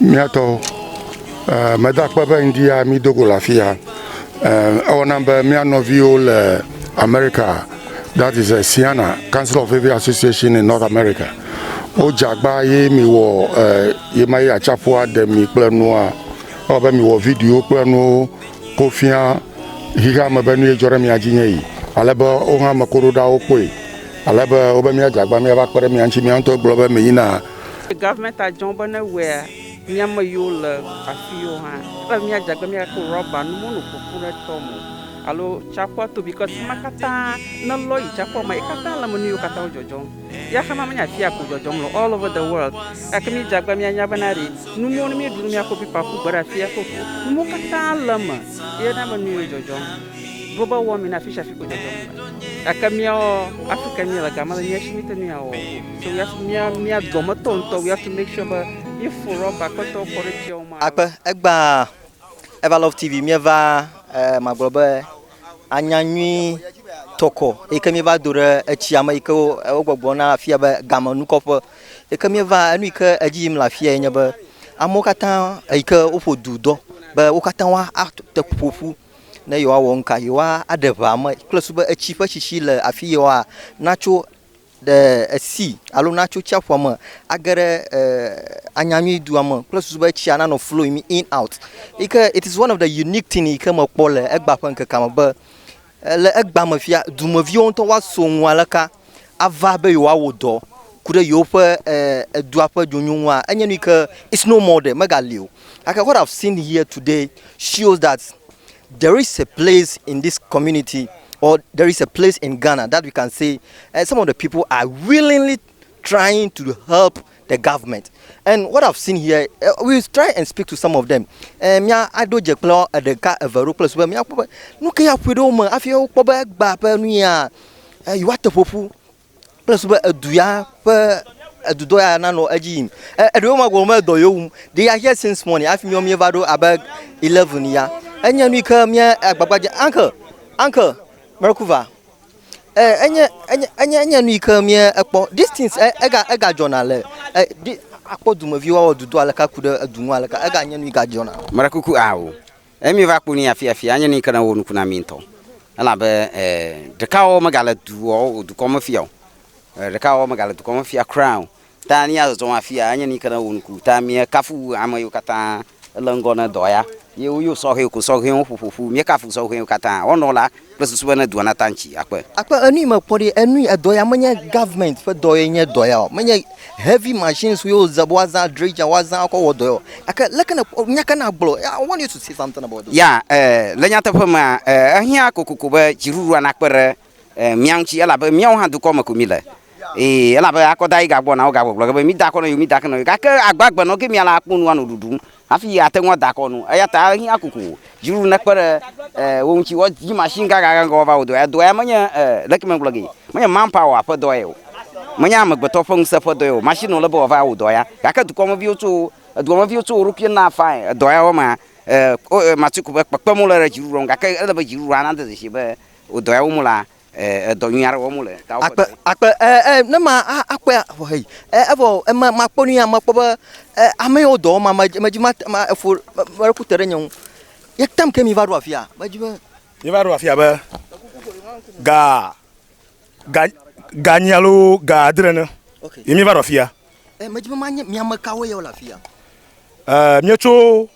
Míatɔ eh, meda akpe be ŋdi ya mi dogo le afi ya. Eh, ewɔna be mía nɔviwo le America, that is uh, Siana Council of Heavy Association in North America. Wodze agba ye mi wɔ eh, ye ma ye atsaƒua ɖe mi kple nua. Ewɔ be mi wɔ video kple nuwo ko fia xixea me be nu ye dzɔ ɖe mia dzi nye yi. Ale be wo hã ame koɖoɖawo kpɔe. Ale be wobe míadze agba míava kpe ɖe mia ŋuti mía ŋutɔ gblɔ be mi yina Government a dzɔn be ne wɛa mia me yiwo le afi yiwo hã ele be mia dze agbe mia ko rɔba nu mono ƒoƒu ɖe tɔ me o alo tsyaƒua to bikɔs fima katã ne lɔ yi tsyaƒua me ekatã le me nu yiwo katã wo dzɔdzɔm ya xama menye afia ko dzɔdzɔm le all over the world gake mi dze agbe mia nya be na ɖi nu mo ne mi ɖu nu mia ko pipa ku gbe ɖe afia ko nu mo katã le me ye na me nu yiwo dzɔdzɔm global warming na afi sha afi ko dzɔdzɔm le gake miawo Africa mi le gama le mia shi mi te nu ya wɔ So we have to mia mia dɔmetɔ ŋutɔ we have to make sure be mi fo rɔba kpetɔ kɔ ɖe tsiawo ma. Akpe egba Ever Love TV mieva eh, magblɔ be anya nyui tɔkɔ yi ke mieva do ɖe etsia me yi ke wogbɔgblɔ na afia be game nukɔƒe yi ke mieva enu yi ke edzi yim le afia yi nye be amewo katã yi ke woƒo du dɔ be wo katã wa ate ƒoƒu ne yewoawɔ nuka yewoa aɖe ʋea me kple su be etsi ƒe tsitsi le afi yewoa natso ɖe esi alo natso tsiaƒua me age ɖe Anyanyui dua me kple susu be tsia nanɔ flowing in out. Yi ke it is one of the unique thing yi ke mekpɔ le egba ƒe ŋkekea me be eh, le egba me fia dumeviwo ŋutɔ woaso ŋu aleka ava be yewoawɔ dɔ ku ɖe yewoƒe eh, edua ƒe dzonyo ŋua enye nu yi ke it's no more ɖe megali o. Like what I've seen here today shows that There is a place in this community or there is a place in Ghana that we can say uh, some of the people are willingly trying to help the government. And what I've seen here, uh, eh, we'll try and speak to some of them. Eh, mia ado dze kple ɖeka eve ɖo kple sube mia kpɔ be nu ke ya ƒoe ɖe wo me hafi wokpɔ be egba ƒe nu ya eh, yewoate ƒoƒu kple susu be edu ya ƒe edudɔ ya nanɔ edzi yim. E, eɖewo ma gɔme edɔ yewo wum. They are here since morning. Hafi míawo míeva ɖo abe 11 ya. Enye nu yi ke mía agbagba dze. Uncle, uncle, Merkuva. E, enye, enye, enye, enye nu yi ke mía ekpɔ. These things, e, ega, ega dzɔna le, e, di, akpɔ dumeviwo awɔ dudɔ aleka ku ɖe edu ŋu aleka. Ega nye nu yi gadzɔna. Mera kuku ao. Eye mi va kpɔ ni afi afi anye ni ke ne wo nuku na mi ŋutɔ. Elabe eh, ɖeka wɔwɔ mega le du wɔwɔ dukɔ me fia o. Eh, ɖeka wɔwɔ mega le dukɔ me fia kura o. Ta ni azɔzɔ afi ya anye ni ke ne wo nuku. Ta mi kafu ame yiwo kata le ŋgɔ ne dɔ ya. Ye wo yo sɔhɛ ko sɔhɛ wo ƒoƒoƒu. Mi kafu sɔhɛ wo kata. Wɔnɔ la, kple susu be ne dua nata ŋtsi akpe. Akpe enui mekpɔ ɖi enui edɔ ya menye government ƒe dɔ ye nye dɔ ya o menye heavy machines ye wozã be woazã dredger woazã akɔ wɔ dɔ ya o gake leke ne nya ke ne agblɔ ya want you to say something about it. Ya eh le nyateƒe mea eh ehiã kokoko be dziɖuɖua nakpe ɖe eh mía ŋtsi elabe míawo hã dukɔ me ko mi le ee elabe akɔda yi gagbɔna wogagbɔgblɔ ge be mida akɔ nɔ yewo mida akɔ nɔ yewo gake agbagbe nɔ ge mía la akpɔ nu anɔ ɖuɖum Hafi yeate ŋu ada akɔ nu. Eya ta ehiã kokoko dziɖuɖu nekpe ɖe wo ŋuti woadzi mashini gãgãgã ŋgɔ woava wɔ dɔ ya. Dɔ ya menye, leke megblɔ gee? Menye manpower ƒe dɔ ye o. Menye amegbetɔ ƒe ŋusẽ ƒe dɔ ye o. Mashini wòle be wòava wɔ dɔ ya. Gake dukɔmeviwo tso, edukɔmeviwo tso wo ɖokui na fain edɔ ya wɔmea, wo, Matsiko be kpekpem wole ɖe dziɖuɖua ŋu gake ele be dziɖuɖua nade dzesi be wò dɔ ya wɔm wolea, Edɔ nyui aɖe wɔm wole. Akpe, akpe, e, e, ne ma a, akpe vɔ heyi. E, evɔ ema ma kpɔ ni ama kpɔ be e, ame yewo dɔ ma ma ma dzi ma ma efo ma ɖe ku te ɖe nye ŋu. Ye tam ke mi va ɖo afia. Ma dzi be. Mi va ɖo afia be ga ga ga nyi alo ga adre ne. Okay. Ye mi va ɖo afia. E, ma dzi be ma nye mi ame kawo ye wole afia. E, mi tso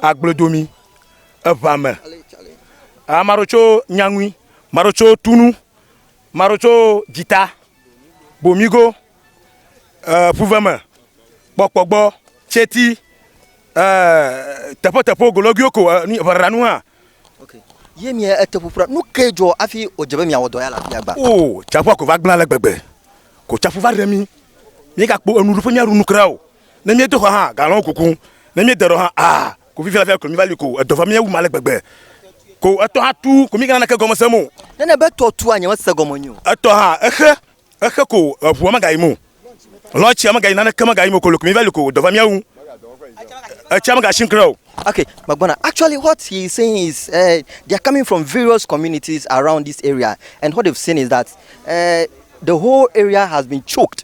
agbledomi, eʋame. Ame aɖewo tso nyaŋui, ame aɖewo tso tunu, ame aɖewo tso dzita, bomigo, eh, ƒuveme, kpɔkpɔgbɔ, tsɛti, eh, teƒeteƒewo, golɔguiwo ko eh, ʋeɖaɖanu hã. Okay. Ye mi ete ƒuƒu ɖa. Nu ke dzɔ afi odze be miawɔ dɔ ya la fia gba. O, tsaƒua ko va gblẽ ale gbegbe. Ko tsaƒu va ɖe mi. Mi gakpo enu ɖuƒe mi aɖu nu kura o. Ne míedo xɔ hã, galɔ̃ kuku. Ne míede ɖɔ hã, aa, ko fifia fia koe míva li ko. Edɔ va mía wum ale gbegbe. Ko etɔ hã tu ko míegana naneke gɔme sem o. Nenye be etɔ tua, nyemese gɔme nyui o. Etɔ hã, exe, exe ko eŋua megayim o. Lɔ̃ tsia megayim, naneke megayim o ko le ko míva li ko. Edɔ va mía wum. Etsia megasi ŋkre o. Okay, megbɔna. Actually what he is saying is uh, they are coming from various communities around this area and what they've seen is that uh, the whole area has been choked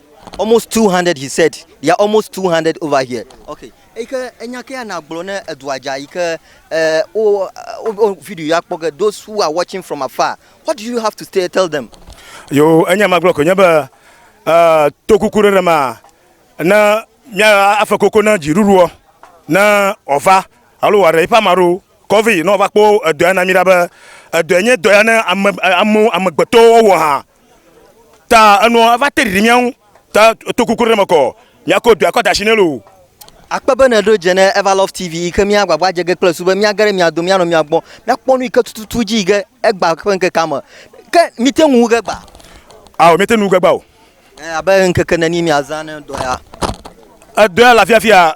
almost 200 he said they are almost 200 over here okay eke enya ke ana gblɔ ne edua dza yi ke eh, o o video ya kpɔ ke those who are watching from afar what do you have to say, tell them yo enya ma gblɔ ko nye be uh, to kuku ɖe ma na mia afa koko na dziɖuɖuɔ na ɔva alo wa ɖe ipa maɖo kɔvi na ɔva kpɔ edɔ ya na mi ɖa be edɔ nye dɔ ya ne ame ame amegbetɔwo wɔ ha ta enɔ eva te ɖiɖi mía ŋu ta to kuku ɖe me kɔ míakɔ dua kɔ da asi nɛ loo. Akpe be nèɖo dze ne Everlove TV yi ke míagbagba dze ge kple su be míage ɖe mia dome míanɔ mia gbɔ míakpɔ nu yi ke tututu dzi yi ke egba ƒe ŋkekea me. Ke míete ŋu wu ge gbaa? Ao, míete ŋu wu ge gbaa o. Abe ŋkeke neni miazã ne dɔ ya? Edɔ ya le afiafia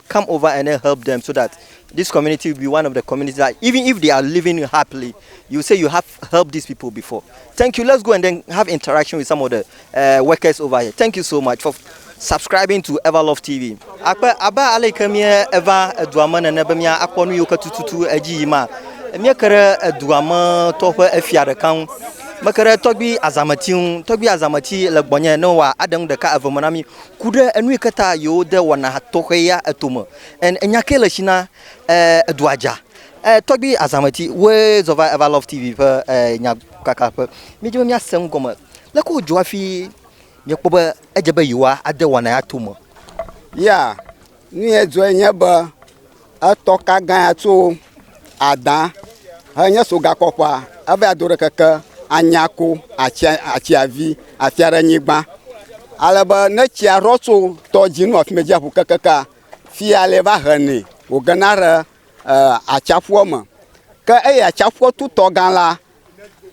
come over and then help them so that this community will be one of the communities that even if they are living happily, you say you have helped these people before. Thank you. Let's go and then have interaction with some of the uh, workers over here. Thank you so much for subscribing to Everlove TV. Akpe aba ale ke mie eva edua me nene be mia akpɔ nu yiwo ke tututu edzi yi ma. Mie ke ɖe edua me tɔ ƒe efia ɖeka ŋu. Meke ɖe tɔgbi azameti ŋu. Tɔgbi azameti le gbɔnye ne wa aɖe ŋu ɖeka eve me na mi. ku ɖe enu yi ke ta yewode wɔna tɔxɛ ya eto me. En enya ke le si na e edua dza. E tɔgbi azameti woe zɔ va Ever Love TV ƒe e nya kaka ƒe. Míedi be míase nu gɔme. Leke wodzɔ hafi miekpɔ be edze be yewoa ade wɔna ya to me. Ya, nu ye dzɔe nye be. Etɔ ka gã ya tso Ada henye sogakɔƒea, eva do ɖe keke Anyako atsia, atsiavi afia ɖe nyigba. Ale be ne tsia ɖɔ tso tɔdzinu afi me dziaƒo kekekea, fia le va henɛ wògena ɖe uh, atsiaƒua me. Ke eya atsiaƒua tutɔ gã la,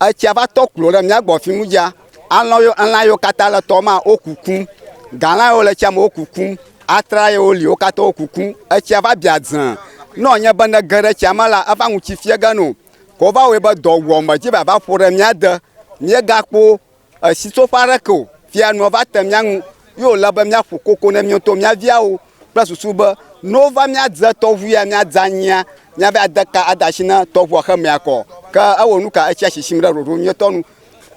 Etsia va tɔ klo ɖe mía gbɔ fi nu dza. Alɔ yo, elã yiwo katã le tɔ ma wo kukum. Galã yiwo le tsia me wo kukum. Atra yiwo li wo katã wo kukum. Etsia va bia dzẽ. Ne wònye be ne ge ɖe tsia me la, eva ŋuti fia ge nɛ o. Ke wova wɔe be dɔwuame dzi va va ƒo ɖe mía de. Míegakpɔ Sitsoƒe aɖeke o. Fia nua va te mía ŋu, ye wòle be míaƒo koko ne mía ŋutɔ mía viawo kple susu be ne wova míadze tɔʋu ya míadze anyia, míava ade ka ade asi na tɔʋua xemea kɔ. Ke ewɔ nu ka? Etsia sisim ɖe ɖoɖo nyuitɔ nu.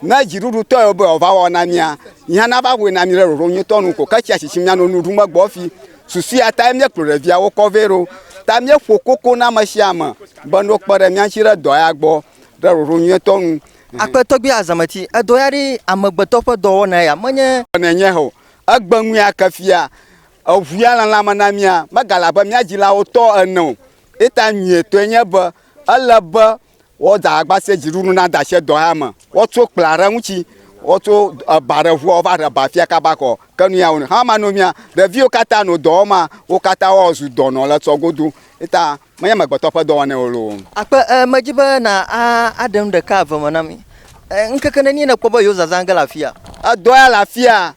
Ne dziɖuɖutɔe wòbe yeava wɔ na mía, yi hã nava wɔe na mí ɖe ɖoɖo nyuitɔ nu ko. Ke etsia sisim míanɔ nu ɖum egbɔ hafi. Susu ya tae míekplɔ ɖeviawo kɔ vɛ ɖo. Ta míeƒo koko na ame sia ame be ne wokpe ɖe mía ŋuti ɖe dɔ ya gbɔ ɖe ɖoɖo nyuitɔ nu. Akpe tɔgbi azameti edo ya ɖi amegbetɔ ƒe dɔwɔna ya menye. Ne nye ho egbe ŋu ya ke fia eŋu ya le lãme na mia megale abe mia dzilawo tɔ ene o. Eta nyuietɔe nye be ele be woda agba se dziɖuɖu na da se dɔ ya me. Woatso kpla ɖe ŋutsi woatso eba ɖe ŋua wova ɖe ba fia kaba kɔ ke nu ya wonɔ. Hama no mia ɖeviwo katã no dɔwɔma wo katã woazu dɔnɔ le tsɔ godo eta. Menye amegbetɔ ƒe dɔwɔnae wò loo. Akpe, e, medi be na a, aɖe nu ɖeka eve me na mí. E, ŋkeke nenie nèkpɔ be yewozaza ge le afia? Edɔ ya le afia.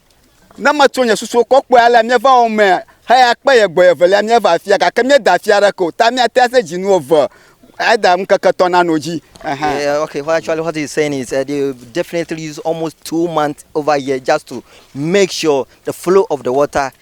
Ne metso nye susuwo kɔ kpɔe alea, míeva wo me heyi akpe ye gbɔe evelia míeva afia, gake míeda afia aɖeke o. Ta míate ŋu ase dzinu eve either ŋkeke etɔ̃ nanɔ edzi. Ɛhɛ̃. Yeah, okay, well, actually, what he's saying is uh, they definitely use almost two months over here just to make sure the flow of the water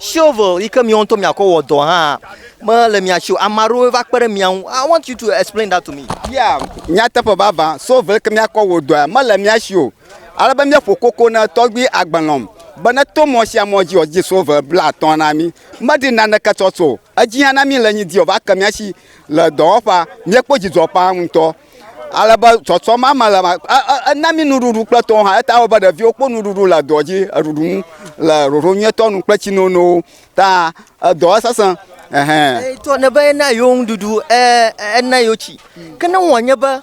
Shovel yi ke miawo ŋutɔ miakɔ wɔ dɔ hã mele mia si o. Ame aɖewo va kpe ɖe mia ŋu. I want you to explain that to me. Yeah, nyateƒe vavã, shovel yi ke miakɔ wɔ dɔa mele mia si o. Ale be míeƒo koko na tɔgbui agbe lɔm be neto mɔ sia mɔ dzi wòadidi shovel blaatɔ̃ na mí. Medi naneke tsɔtsɔ o. Edzi ya na mí le nyi di wòva ke mía si le dɔwɔƒea, míekpɔ dzidzɔ ƒãa ŋutɔ. Ale be zɔzɔ ma me le ma, ena mí nuɖuɖu kple tɔwo hã. Eta wɔ be ɖeviwo kpɔ nuɖuɖu le dɔ dzi, eɖuɖu nu le ɖoɖo nyuietɔ nu kple tsinonowo. Ta edɔ esesẽ. Ɛhɛn. Tɔ ne be ena yewo nuɖuɖu, e, ena yewo tsi. Ke ne wɔ nye be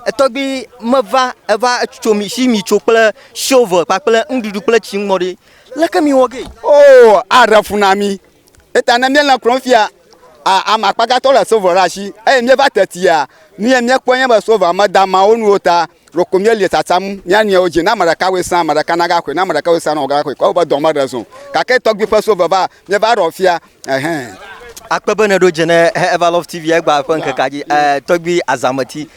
etɔgbui meva eva tso mi si mi tso kple shovel kpakple nuɖuɖu kple tsi ŋmɔ ɖe, leke mi wɔ ge? Oo, aɖe fu na mí. Eta ne míele klɔm fia ame akpa gãtɔ le silva ɖe asi eye míeva tetia, nu ye míekpɔe nye be silva meda ama wo nu o ta ɖeko míelie tsatsam mía nɔewo dzi. Ne ame ɖeka wɔe sã, ame ɖeka nagaxɔe, ne ame ɖeka wɔe sã, nɔgɔga naxɔe. Kɔ woƒe dɔ me ɖe zɔ. Gake tɔgbui ƒe silva va, míeva ɖɔ fia. Ɛhɛɛ. Akpe be nèɖo dze ne Evalove TV-a egba ƒe ŋkekea dzi. Ɛɛ, tɔgbui Azameti.